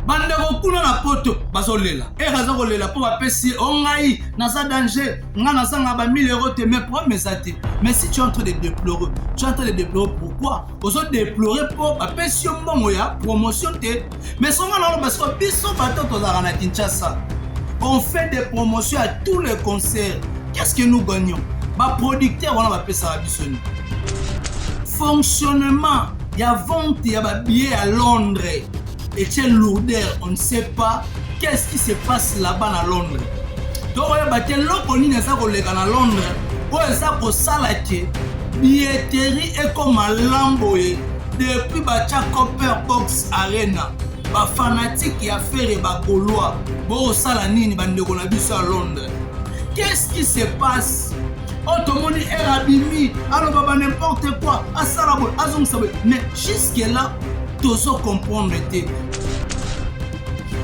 bandeko kuna na poto bazolela ere aza kolela mpo bapesi ye o oh, ngai naza danger ngai nazanga ba 1000 euro te mais problème eza te mais si tu es en train de déplorer tu es en train de déplorer pourquoi ozo déplorer mpo bapesi yo mbongo ya promotion te mais songa na oloba siko biso bato tozalaka na kinshasa on fait des promotions à tous les concerts qu'est ce que nous gagnons baproducteur wana bapesaka biso nini fonctionnement ya vente ya ba billets ya Londres etie lourder on ne sait pas qu'est-ce qui se passe là-bas na Londres tokoyeba te eloko nini eza koleka na Londres oyo eza kosala ke billetterie ekoma lam boye depuis batya copper box arena bafanatike ya fere bakolwa bokosala nini bandeko na biso ya londres qu'est-ce qui se passe oyo oh, tomoni ere abimi aloba ba n'importe quoi asala boye azongisa boye mais jusque là tozo comprendre te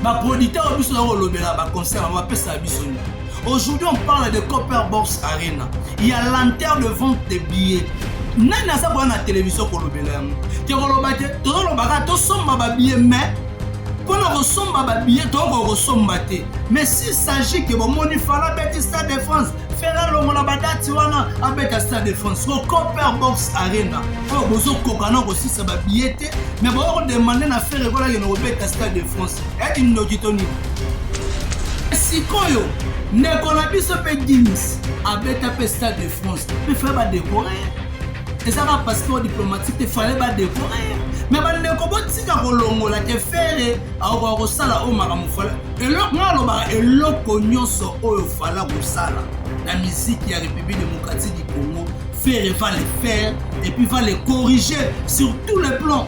baproducteur oyo biso nakolobela baconcert yango bapesaka biso nini aujourd'hui on parle de copper box arena ya lanter de vente de billet nani aza koya na televizio kolobela yango te koloba te tozolobaka tosomba babillet mais mpo na kosomba babillet tokokoka kosomba te mais s'il s'agit ke bomoni fala beti stade de france Ferre alongola badati wana abeta stade de France ko Copper Box Arena oyo bozokoka na kosisa babiye te me boya kodemande na Ferre ekola kende kobeta stade de France eti ndoki to nini sikoyo ndeko na biso mpe dims abeta mpe stade de France mpe fale badekore ezaka passeport diplomatique te fale badekore me bandeko botika kolongola te Ferre akokoka kosala oyo makambo fale eloko nga alobaka eloko nyonso oyo fala kosala na miziki ya république démocratique du congo ferre va le faire et puis va le corriger sur tous les plans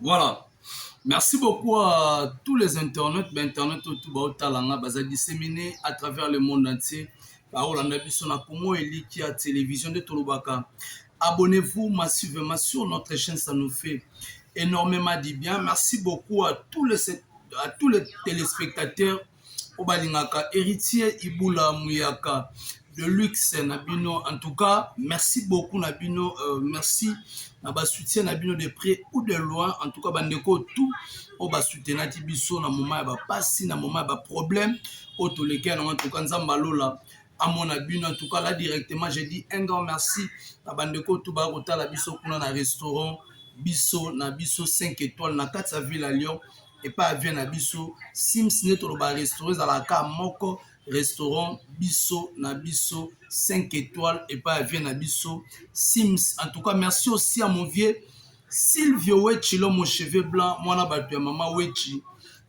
Voilà. Merci beaucoup à tous les internautes, ba internautes tout ba otalanga baza disséminés à travers le monde entier. bakolanda biso na congo eliki ya télévision nde tolobaka abonnez-vous massivement sur notre chaîne ça nous fait énormément du bien merci beaucoup à tous les, à tous les téléspectateurs oyo balingaka heritier ibula muyaka de luxe na bino en tout cas merci beaucoup na bino merci na ba soutien na bino de près ou de loin en tout cas bandeko tout oyo basutenaki biso na moment ya bapasi na moment ya baproblème oyo toleki yango en tout cas nzambe alola amona bino en tout cas là directement je dis un grand merci na bandeko tout baya kotala biso kuna na restaurant biso na biso 5 étoiles na kati ya ville ya lyon epa ya vie na biso sims nde toloba restaurant ezalaka ka moko restaurant biso na biso 5 étoiles epa ya vie na biso sims en tout cas merci aussi à mon vieux silvio wechi lomo cheveux blanc mwana bato ya mama wechi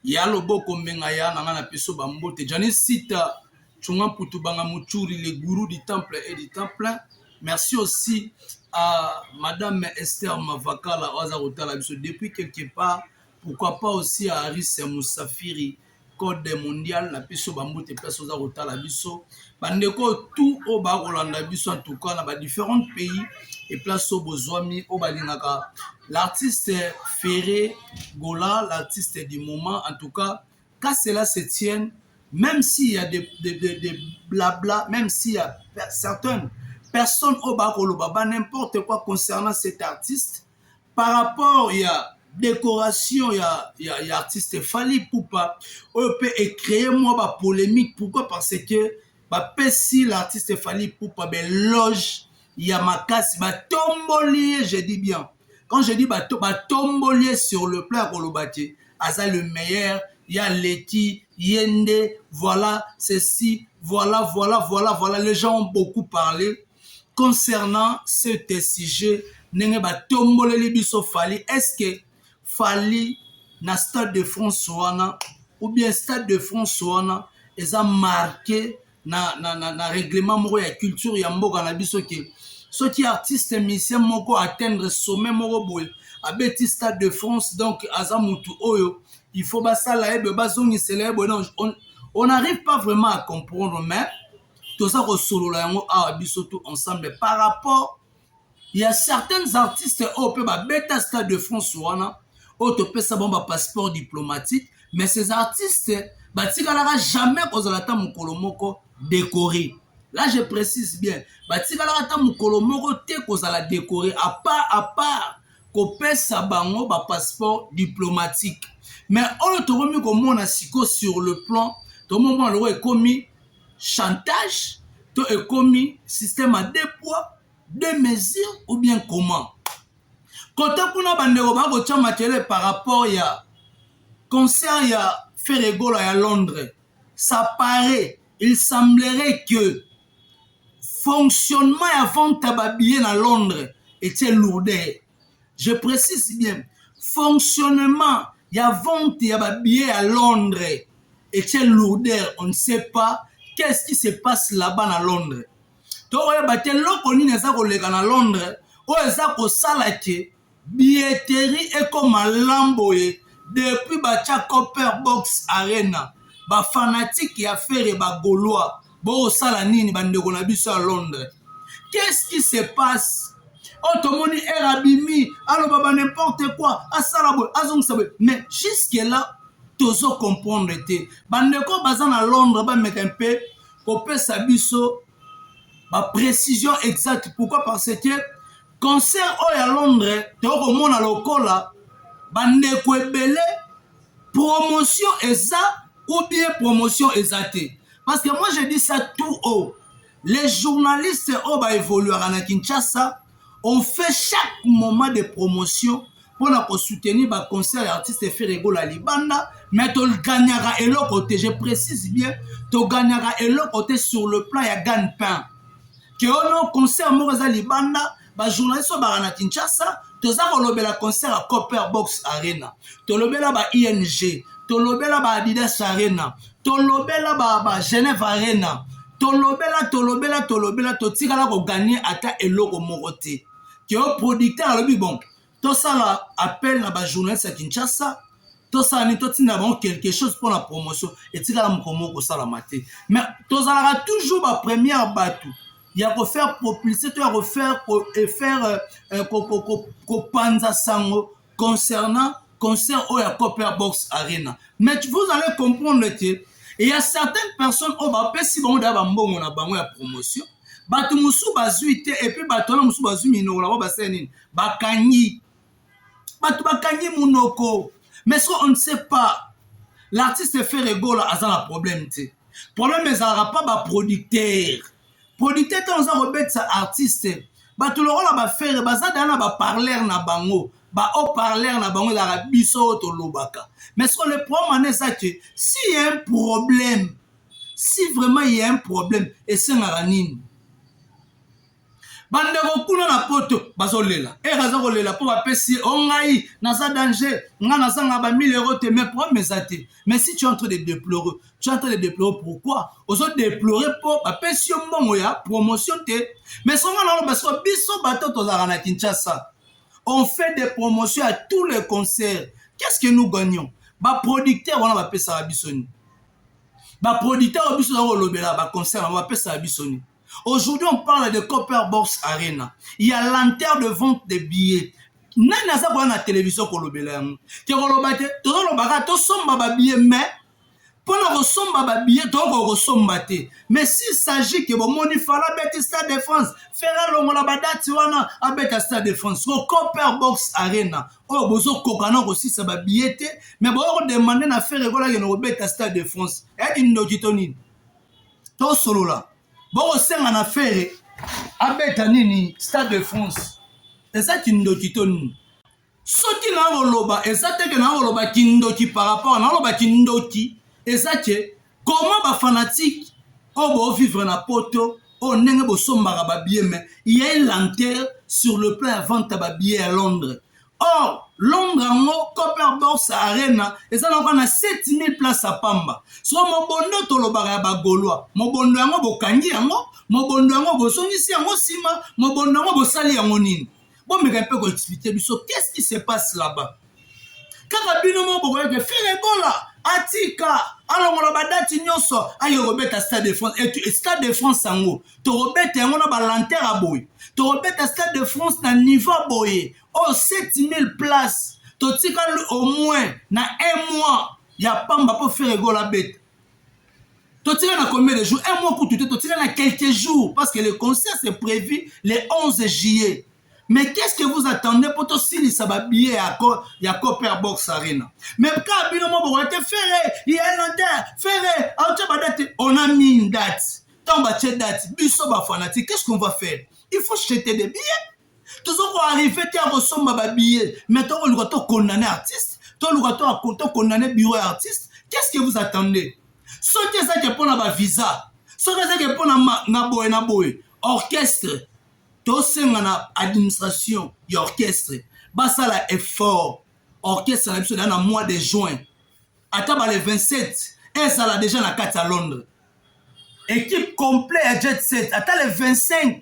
ya loboko mbenga ya na ngai na peso bambote janis sita Chunga Putubanga Muchuri, le gourou du temple et du temple. Merci aussi à Madame Esther Mavakala Oza Rotala Biso depuis quelque part. Pourquoi pas aussi Harris Musafiri code mondial na biso ba mbote place oza kotala biso ba ndeko tout oyo ba kolanda biso en tout cas na ba différents pays et place oyo bozwami oyo balingaka l'artiste Ferre Gola l'artiste du moment en tout cas qu'à cela se tienne même s'il y a des, des, des, des blabla même s'il y a certaines personnes oyo ba koloba ba n'importe quoi concernant cet artiste par rapport ya décoration ya, ya, ya artiste Fally Ipupa oyo pe e créer mwa ba polemique pourquoi parce que bapesi l'artiste Fally Ipupa beloge ya makasi batomboli ye je dis bien quand je dis bato batomboli ye sur le plan ya koloba te aza le meilleur ya leki ye nde voilà ceci voilà voilà voilà voilà les gens ont beaucoup parlé concernant cet sujet ndenge batomboleli biso fali eske fali na stade de france wana ou bien stade de france wana eza marke na, na, na, na règlement moko ya culture ya mboka na biso ke soki artiste musicien moko atteindre sommet moko boye abeti stade de france donc aza mutu oyo il faut basala ye boye bazongisela ye boye on n'arrive pas vraiment à comprendre mais toza kosolola yango awa biso tout ensemble par rapport ya certaines artistes oyo mpe babeta stade de france wana oyo topesa bango bapasseport diplomatique mais ces artistes batikalaka jamais kozala ata mokolo moko décoré là je précise bien batikalaka ata mokolo moko te kozala décoré à part à part kopesa bango bapasseport diplomatique mais oyo tokomi komona siko sur le plan tomomona lokola ekomi chantage to ekomi système ya deux poids deux mesures ou bien comment kote kuna bandeko baa kotya makele par rapport ya concert ya feregola ya londres ça paraît il semblerait que fonctionnement ya vente ya babillet na londres etie lourdeur je précise bien fonctionnement ya vente ya ba billets ya Londres etie lourdeur on ne sait pas qu'est-ce qui se passe là-bas na Londres tokoyeba te loko nini eza koleka na Londres oyo eza kosala ke billetterie ekoma lam boye depuis batya copper box arena bafanatike ya fere bagolois bosala nini bandeko na biso ya londres qu'est-ce qui se passe oyo oh, tomoni ere abimi aloba ba n'importe quoi asala boye azongisa boye mais jusque là tozo comprendre te bandeko baza na londres bameka mpe kopesa biso baprécision exacte pourquoi parce que concert oyo ya londres tokoki komona lokola bandeko ebele promotion eza ou bien promotion eza te parce que moi je dis ça tout haut les journalistes oyo ba évoluaka na kinshasa on fait chaque moment de promotion mpo na kosoutenir baconcert ya artiste feregola libanda mais toganyaka eloko te je précise bien toganyaka eloko te sur le plan ya gagne pain keono concert moko eza libanda ba journaliste oyo baka na kinshasa toza kolobela concert ya copper box arena tolobela ba ing tolobela ba adidas arena tolobela ba, ba genève arena tolobela tolobela tolobela totikala koganye ata eloko moko te keo producteur alobi bon tosala appel na ba journaliste ya kinshasa tosala nini totinda bango quelque chose mpo na promotion etikala mokolo moko kosalama te mais tozalaka toujours ba première bato ya kofaire propulse to ya kofaire kofaire euh, euh, kopanza sango concernant concert oyo ya copper box arena mais vous allez comprendre te il y a certaines personnes oyo bapesi bango deya bambongo na bango ya promotion bato mosusu bazwi te epuis bato wana mosusu bazwi minoko na bango basala nini bakangi bato bakangi monoko mais ce on ne sait pas l'artiste fere gola aza na problème te problème ezalaka mpa baproducteur producteur ntango oza kobetisa artiste bato lokola bafere baza daa na baparleur na bango baoparleur na bango ezalaka biso oyo tolobaka mais ce le problème wana eza ke si ya un problème si vraiment ya un problème esengaka nini bandeko kuna na poto bazolela ere aza kolela mpo bapesi ye o oh, ngai naza danger ngai nazanga ba 1000 euro te mais problème eza te mais si tu entre de déplorer tu entre de déplorer pourquoi ozo déplorer mpo bapesi yo mbongo ya promotion te mais songa na oloba siko biso bato tozalaka na kinshasa on fait des promotions à tous les concerts qu'est ce que nous gagnons baproducteur wana bapesaka biso nini baproducteur oyo biso toza kolobela baconcert yango bapesaka biso nini Aujourd'hui, on parle de Copper Box Arena. Il y a lenteur de vente des billets. nani aza koya na televizio kolobela yango te koloba te tozolobaka tosomba babiye mai mpo na kosomba babiye tokoka kosomba te mais s'il s'agit ke bomoni fala abeti stade de france fere alongola badati wana abeta stade de france ko copper box arena oyo oh, bozokoka na kosisa babiye te mais boya kodemande na fere ekolakende kobeta stade de france eyaki ndoki to nini tosolola bokosenga na fere abeta nini stade de france eza kindoki to nini soki na koloba eza te ke na koloba kindoki par rapport na koloba kindoki eza ke koma bafanatike oyo boovivre na poto oyo ndenge bosombaka babie me ya elantere sur le plan ya vente ya babie ya londres Or, Londres yango Copper Box Arena eza na kwa na 7000 place ya pamba. Soko mobondo tolobaka ya ba Gaulois, mobondo yango bokangi yango, mobondo yango bozongisi yango sima, mobondo yango bosali yango nini? Bomeka mpe ko expliquer biso qu'est-ce qui se passe là-bas? Kaka bino moko bokoya ke Ferre Gola atika alongola ba date nyonso aye kobeta Stade de France et Stade de France yango tokobeta yango na balantere ya boye tokobeta stade de france na niveau ya boye oyo 7000 place totikali au moins na un mois ya pamba mpo feregola abeta totikali na combien de jours un mois kutu te totikali na quelques jours parce que le concert c'est prévu le 11 juillet mais qu'est-ce que vous attendez mpo tosilisa babillet ya, co, ya copper box arena mais kaka bino moboko te fere ye lante fere autya badate on a mis une date Tant batie date biso ba fanatique qu'est-ce qu'on va faire? Il faut jeter des billets. Tozo ko arriver te ya kosomba ba billets mais toko luka to condamner artiste, to luka to to condamner bureau ya artiste. Qu'est-ce que vous attendez? Soki eza ke pona ba visa, soki eza ke pona na boye na boye, orchestre tosenga na administration ya orchestre basala effort orchestre na biso na mois de juin ata ba le 27 ezala deja na kati ya londres equipe complet ya jet set ata le 25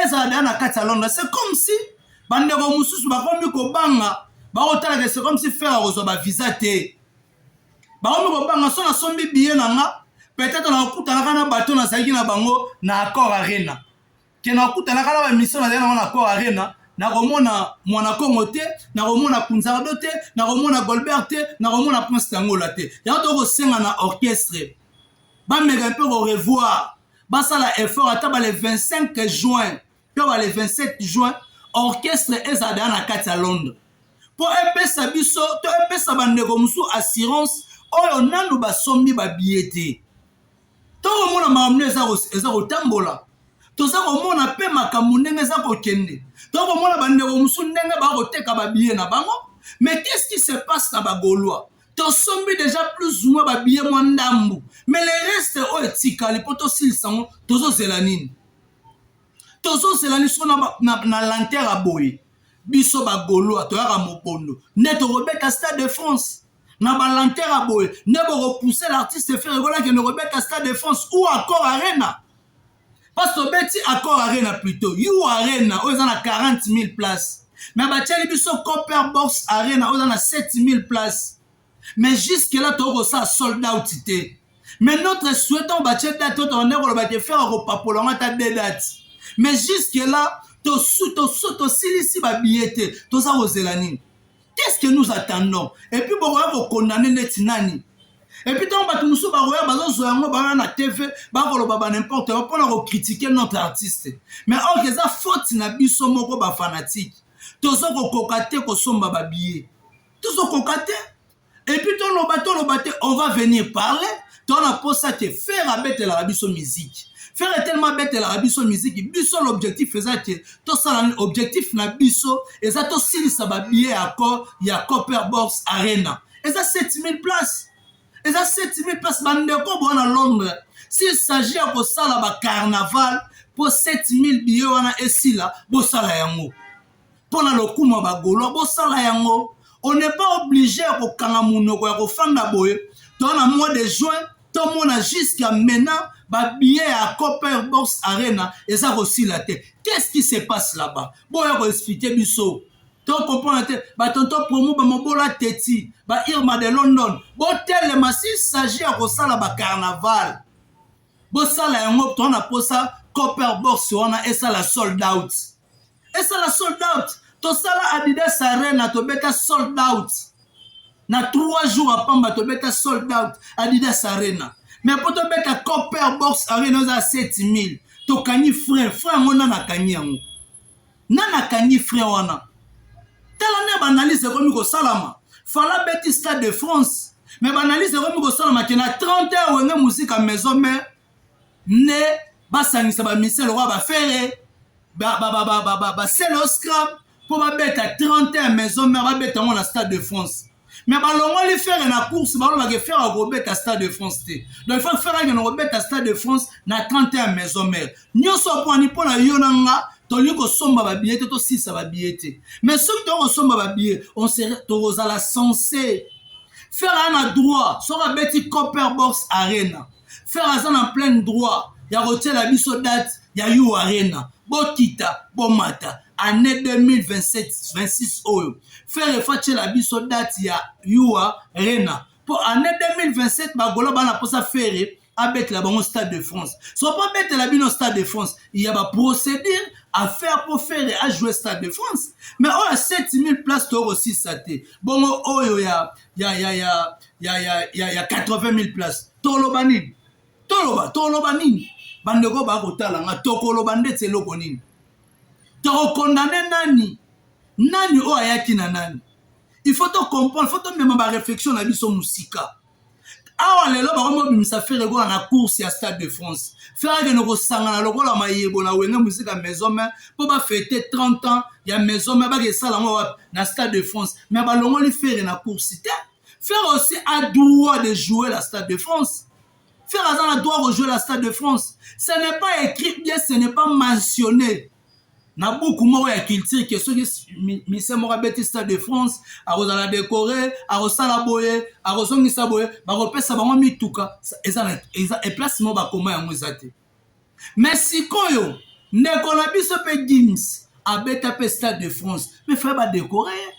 ezala deja na kati ya londres c'est comme si bandeko mosusu bakomi kobanga bakotalaka c'est comme si fere akozwa bavisa te bakomi kobanga so nasombi biye na nga peut-être nakokutanaka na bato nazalaki na bango na accord arena Ken akutanaka na ba mission nazali nango na Accor Arena nakomona mwana kongo te nakomona kunzardo te nakomona golbert te nakomona prince tangola te yango toki kosenga na orchestre bameka mpe korevoir basala effort ata bale 25 juin to bale 27 juin orchestre ezala deya na kati ya londres mpo epesa biso to epesa bandeko mosusu assurance oyo nanu basombi babiye te tokomona makambo nde eza kotambola toza komona mpe makambo ndenge eza kokende tokomona bandeko mosusu ndenge bakoteka babiye na bango mais qu'est-ce qui se passe na bagolois tosombi deja plus moi babiye mwa ndambu mais le reste oyo etikali mpo tosilisa yango tozozela nini tozozela nini so na, na, na lantere ya boye biso bagolois toyaka mobondo nde tokobeta stade de france na ba lenteur ya boye nde boko pousser l'artiste ferre gola kende kobeta stade de france ou accord arena parce tobeti accord arena plutôt you arena oyo eza na 40 000 place mais batieli biso copper box arena oyo eza na 7 000 place mais jusque là tokoki kosala sold out te mais notre souhait ntango batie date oyo tobandaki koloba te ferre akopapola yango ata de date mais jusque là tosilisi babiye te toza kozela nini qu'est-ce que nous attendons et puis bokoya kokondane neti nani epuis ntango bato mosusu bakoya bazozwa yango baoya na tv bakoloba banimporte yango mpona kokritike notre artiste mais orke oh, eza faute na biso moko bafanatike tozokokoka te kosomba babiye tozokoka te et puis toloba toloba te on va venir parler to na posa te faire abetelaka biso miziki fere etelema abetelaka biso miziki biso l'objectif eza te tosala objectif na biso eza tosilisa babillet ya accord ya copper box arena eza 7000 place eza 7000 place bandeko boa na londres s'il s'agit ya kosala bacarnaval mpo 7000 billet wana esila bosala yango mpo na lokumu ya bagolo bosala yango on n'est pas obligé ya kokanga monoko ya kofanda boye to na mois de juin tomona jusqu'à maintenant babillet ya copper box arena eza kosila te qu'est-ce qui se passe là-bas boya koexplike biso tokomprendre te batonto promo bamobola teti ba irma de london botelema s'il s'agit ya kosala bacarnaval bosala yango tona mposa copper box wana esala sold out esala sold out tosala adidas arena tobeta sold out na 3 jours ya pamba tobeta sold out adidas arena mais mpo tobeta copper box arena oza 7000 tokangi frein frein yango nani akangi yango nani akangi frein wana tala nde baanalyse ekomi kosalama fala beti stade de france mais baanalyse ekomi kosalama ke na 30 heure wenge mosika maison mare nde basangisa ba musicien lokola ba fere basele oscram mpo babeta 31 maison mare babeta yango na stade de france me balongoli fere na course balobake fere akobeta stade de france te donc fa fere akende kobeta stade de france na 31 maison mare nyonso apwani mpo na yo na nga tolingi kosomba babiye te tosisa babiye te mais soki toyei kosomba babiye tokozala sense fere aya na droit soki abeti copper box arena Ferre aza na plein droit ya kotiela biso date ya U Arena. Bokita, bomata. Annee 2027, 26 oyo. Ferre faut atiela biso date ya U Arena. Po annee 2027 ba Golo bana posa Ferre abetela bango Stade de France. So po abetela bino Stade de France, il y a ba procédure à faire pour Ferre a jouer Stade de France. Mais oyo 7000 places toko sisa te. Bongo oyo ya ya ya ya ya ya ya ya 80000 place toloba nini toloba toloba nini bandeko bakotala nga tokoloba ndeti eloko nini tokokondane nani nani oyo ayaki na nani il faut tocomprendre faut tomema baréflexion na biso mosika awa lelo bakomi kobimisa fere lokola na course ya stade de france fere akende kosangana lokola mayebo na wenge mosika maison main mpo bafete 30 ans ya maison main bake esala yango wapi na stade de france mais balongoli fere na course te fere aussi a droit de jouer la stade de france fere aza na droit kojouer la stade de france ce n'est pas écrit bien ce n'est pas mentionné na buku moko ya culture ke soki mise moko abeti stade de france akozala decore akosala boye akozongisa boye bakopesa bango mituka eza eplace moko bakoma yango eza te me sikoyo ndeko na biso mpe gims abeta mpe stade de france me fai badekore ye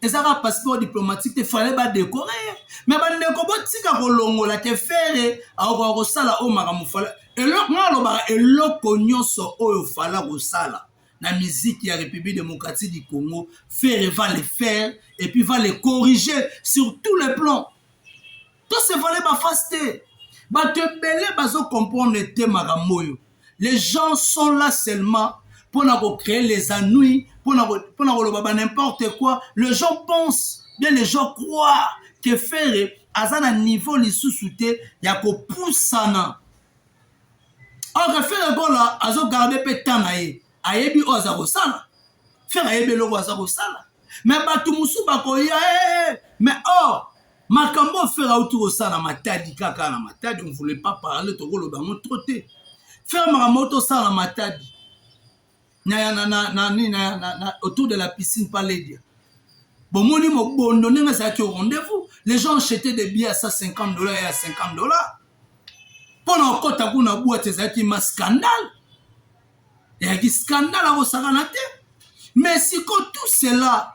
eza kaka passeport diplomatique te fallait ba decorer ye mais bandeko botika kolongola te fere akokoka kosala oyo makambo fala eloko ngai alobaka eloko nyonso oyo fala kosala na miziki ya république démocratique du congo fere va le faire et puis va le corriger sur tout le plan To se vale ba face te. Bato ebele bazo comprendre te makambo oyo. Les gens sont là seulement mpo na ko créer les ennuis, mpo na koloba ba n'importe quoi. Les gens pensent, bien les gens croient que Ferre aza na niveau lisusu te ya kopusana or fere gola azogarde mpe temps na ye ayebi oyo aza kosala fere ayebi eloko aza kosala me bato mosusu bakoya eh, eh, eh. me or makambo oyo fere auti kosala na matadi kaka na matadi on voulait pas parler tokoloba yango to te fere makambo auti osala na matadi na, na, na, na, na, na, na, autour de la piscine pa ledia bomoni mobondo ndenge ezalaki au rendez-vous les gens achetaient des billets à 150 dollars et à 50 dollars mpo na kokɔta kuna bwate ezalaki ma scandale eyaki scandale akosakana te mais siko tout cela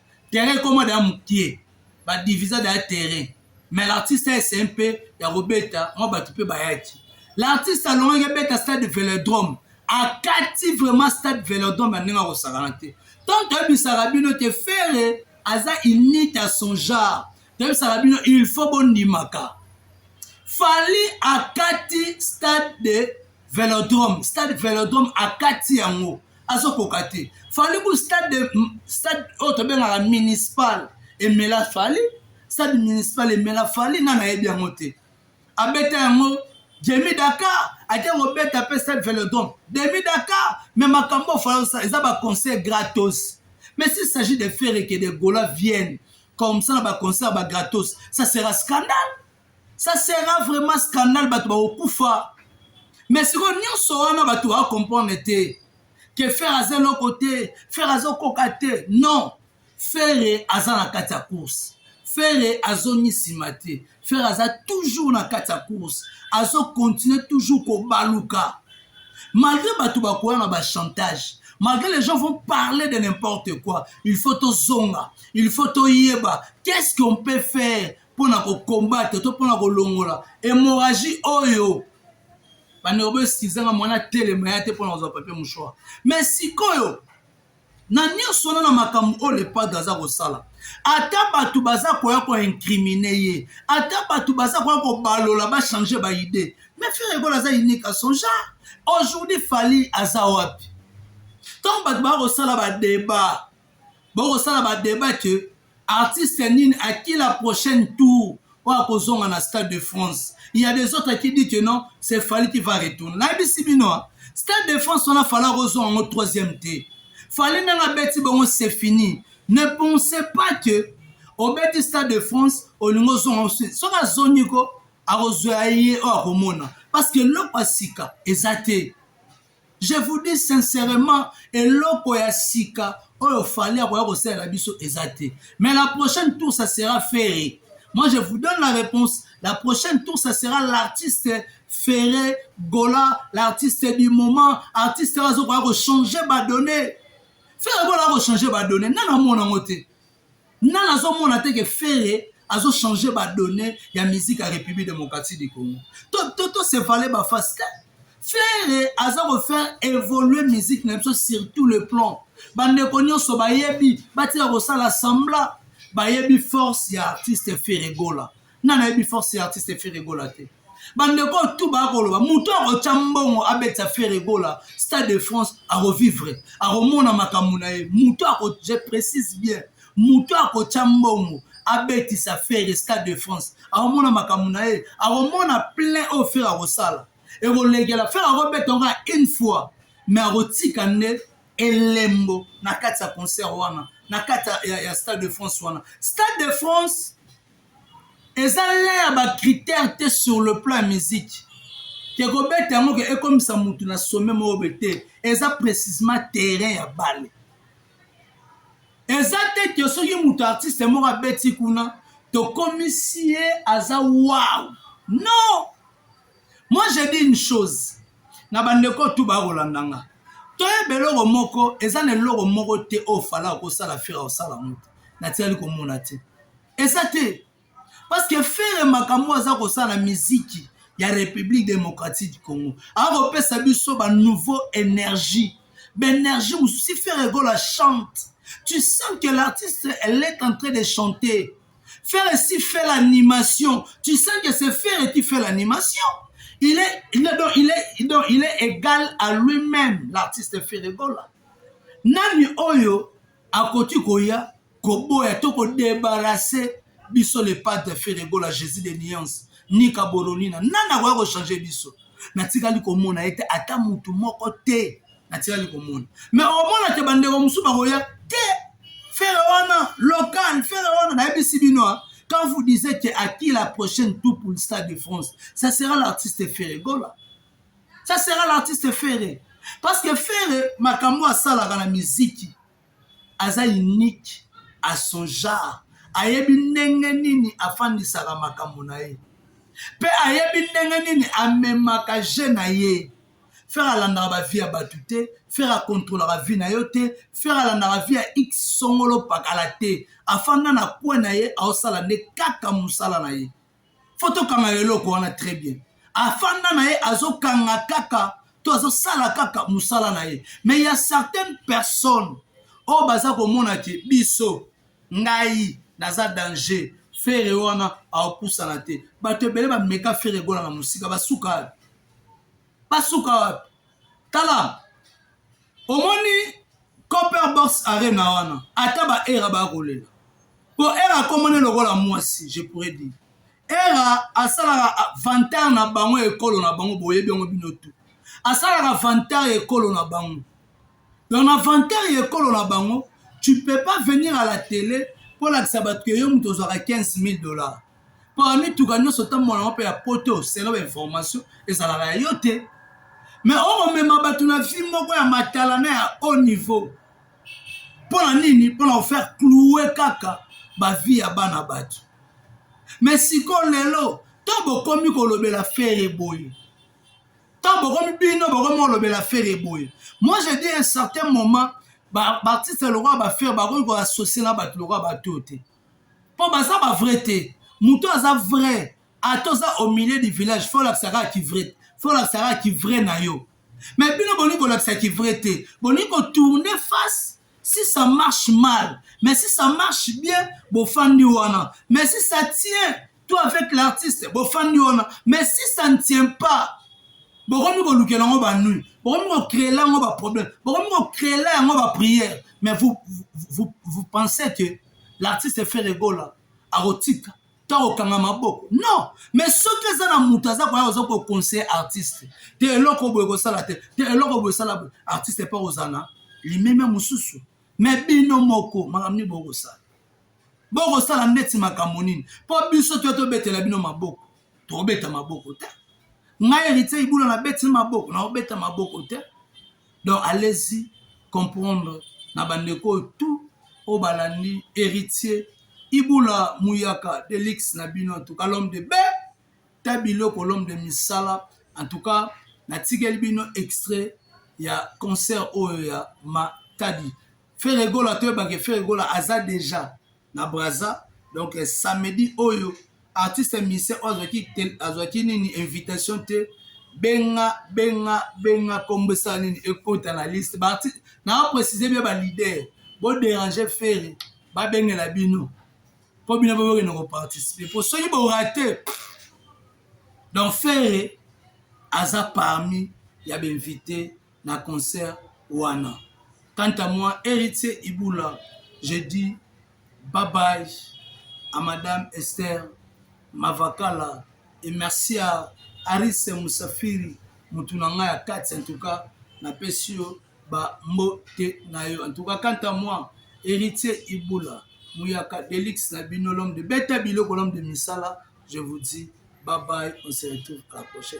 terrain ekoma daya mokie badivisa daya terrain mais l'artiste ese mpe ya kobeta mwa bato mpe bayaki l'artiste alongaki abeta stade velodrome akati vraiment stade velodrome ya ndenge akosakana te ntango toyebisaka bino te fere aza unite ya son genre toyebisaka bino il faut bondimaka fali akati stade de velodrome stade velodrome akati yango azokoka te fali ku stade stade oyo tobengaka municipal emela fali stade municipal emela fali nani ayebi yango te abeta yango jemi dakar ake kobeta mpe stade velodrome demi dakar me makambo ofali osala eza baconseil gratos mais s'il s'agit de ferre que de gola vienne comme ça na baconcert bagratos ça sera scandale ça sera vraiment scandale bato bakokufa mais sikoyo nyonso wana bato bakokomprendre te ke fere aza eloko te fere azokoka te non fere aza na kati ya course fere azongi nsima te fere aza toujours na kati ya course azokontinue toujours kobaluka malgré bato bakoya na bachantage malgré les gens vont parler de n'importe quoi il faut tozonga il faut toyeba qu'est ce qu'on peut faire mpo na kokombate to mpo na kolongola hémorragie oyo bandeko boesikizanga mwana telema ya te mpo na kozwa papier mouchoir me sikoyo na nyonso wana na makambo oyo lepadre aza kosala ata bato baza koya koincrimine ye ata bato baza koya kobalola bachange baide me frere ekolo aza unique a son genre aujourd'hui fali aza wapi ntango bato baya kosala badeba bokosala badeba ke Artiste nini à qui la prochaine tour oyo ako zonga na stade de France? Il ya des autres qui dit que non, c'est Fally qui va retourner. Na yebisi bino hein, stade de France wana Fally ako zonga ngo troisième te. Fally ndenge abeti bongo c'est fini. Ne pensez pas que obeti stade de France olingo ozonga osi soki azongi ko akozwa ye oyo akomona parce que eloko ya sika eza te Je vous dis sincèrement eloko ya sika oyo fali akoya kosalela biso eza te mais la prochaine tour ça sera ferre moi je vous donne la réponse la prochaine tour ça sera l'artiste ferre gola l'artiste du moment artiste oyo azokoya kochange badonne ferre gola akochanger badonne nani amona yango te Nga nazo mona te ke Ferre azo changer ba donnees ya musique ya Republique Democratique du Congo. To se valer ba face te. Ferre aza ko faire evoluer musique na biso sur tout le plan. Ba ndeko nionso bayebi batika kosala semblant bayebi force ya artiste Ferre Gola. Nani ayebi force ya artiste Ferre Gola te? bandeko oyo tu bakoloba moto akotya mbongo abetisa feregola stade de france akovivre akomona makambo na ye moto je précise bien moto akotya mbongo abetisa fere stade de france akomona makambo na ye akomona plein oyo fere akosala ekolekela fere akobeta ngo une fois mais akotika nde elembo na kati ya concert wana na kati ya, ya, ya stade de france wana stade de france Eza l'un ya ba critère te sur le plan ya musique que kobeta yango ke ekomisa mutu na sommet moko boye te eza precisement terrain ya balle eza te ke soki mutu artiste moko abeti kuna tokomisi ye aza wow non moi je dis une chose na bandeko tu bakolanda nga toyeba eloko moko eza na eloko moko te oyo fala okosala fira osala yango te natikali komona te eza te parce que fere makambo aza kosala miziki ya république démocratique du congo akopesa biso ba nouveau énergie baénergie mosusu si fere gola chante tu sens que l'artiste elle est en train de chanter fere si fait l'animation tu sens que c'est fere qui fait l'animation il est, il est, donc, il est, donc, il est égal à lui-même l'artiste fere gola nani oyo akoki koya koboya to kodebarase biso le padre feregola jésus de nuance nika boronina nani akoya kochange biso natikali komona ete ata motu moko te natikali komona me omona te bandeko mosusu bakoya te fere wana local fere wana nayebisi bino ah. quand vous disiez que à qui la prochaine tour pour le stade de france ça sera l'artiste feregola ça sera l'artiste Ferre parce que Ferre makambo asalaka na miziki aza unique à son genre ayebi ndenge nini afandisaka makambo na ye mpe ayebi ndenge nini amemaka je na ye Ferre alandaka ba vie ya bato te Ferre akontrolaka vie na yo te Ferre alandaka vie ya x songolo pakala te afanda na kwe na ye aosala nde kaka mosala na ye fo tokanga eloko wana très bien afanda na ye azokanga kaka to azosala kaka mosala na ye mais ya certaines personnes oyo oh, baza komona ke biso ngai naza danger fere wana aopusana te bato ebele bameka fere egola na mosika basuka wapi basuka wapi tala omoni copper box arena wana ata ba era baya kolela po era akomone lokola mwasi je pourrais dire era asalaka vantar na bango ya ekolo na bango boyebi yango bino tu asalaka vantar ya ekolo na bango donc na vantar ya ekolo na bango tu peux pas venir à la tele mpo olakisa bato ke yo moto ozwaka 15 000 dollars Pona mituka nionso otambola ngo pe ya poto selon ba information ezalaka ya yo te mais oko mema batu na vie moko ya matala na ya haut niveau pona nini pona ko faire cloue kaka ba vie ya bana batu mais siko lelo to bokomi kolobela fere boye to bokomi bino bokomi kolobela fere boye moi je dis un certain moment ba artiste lokola ba fere bakoki ko associer na batu lokola batu te po baza ba vrai te mutu aza vrai ata oza au milieu du village fo olakisa kaka ki vrai fo olakisa kaka ki vrai na yo mais bino bolingi kolakisa ki vrai te bolingi kotourne face si ça marche mal mais si ça marche bien bofandi wana mais si ça tient toi avec l'artiste bofandi wana mais si ça ne tient pas bokomi kolukela yango banui bokomi kocreela yango baproblème bokomi kocreela yango baprière mais vous, vous, vous pensez que l'artiste ferre gola akotika to akokanga maboko non mais soki eza na moto aza koya oza koconseille artiste te eloko boye kosala te te eloko boye sala boye artiste mpe kozala na limemia mosusu mais bino moko makambo nini bokosala Bokosala ndeti makambo nini? Mpo biso toya tobetela bino maboko, tokobeta maboko te. Ngai Heritier Ibula nabeti maboko, nakobeta maboko te. Donc allez-y comprendre na bandeko oyo tout oyo balandi Heritier Ibula Muyaka Delix na bino, en tout cas l'homme de be ta biloko l'homme de misala, en tout cas natikeli bino extrait ya concert oyo ya Matadi. Ferre Gola toyeba ke Ferre Gola aza deja na Brazza donc euh, samedi oyo artiste musicien oyo azwaki azwaki nini invitation te benga benga benga kombo esala nini ekota na liste baartiste na aprécise bia balider boderange Ferre babengela bino mpo bino mpe bokende koparticipe mpo soki borate donc ferre aza parmi ya bainvite na concert wana. Quant à moi Heritier Ibula, je dis bye bye à Madame Esther Mavakala et merci à Aris Musafiri mutu na ngai ya kati en tout cas napesi yo ba mbote na yo en tout cas quant à moi Heritier Ibula Muyaka Delix na bino l'homme de beta biloko l'homme de misala je vous dis bye bye on se retrouve à la prochaine.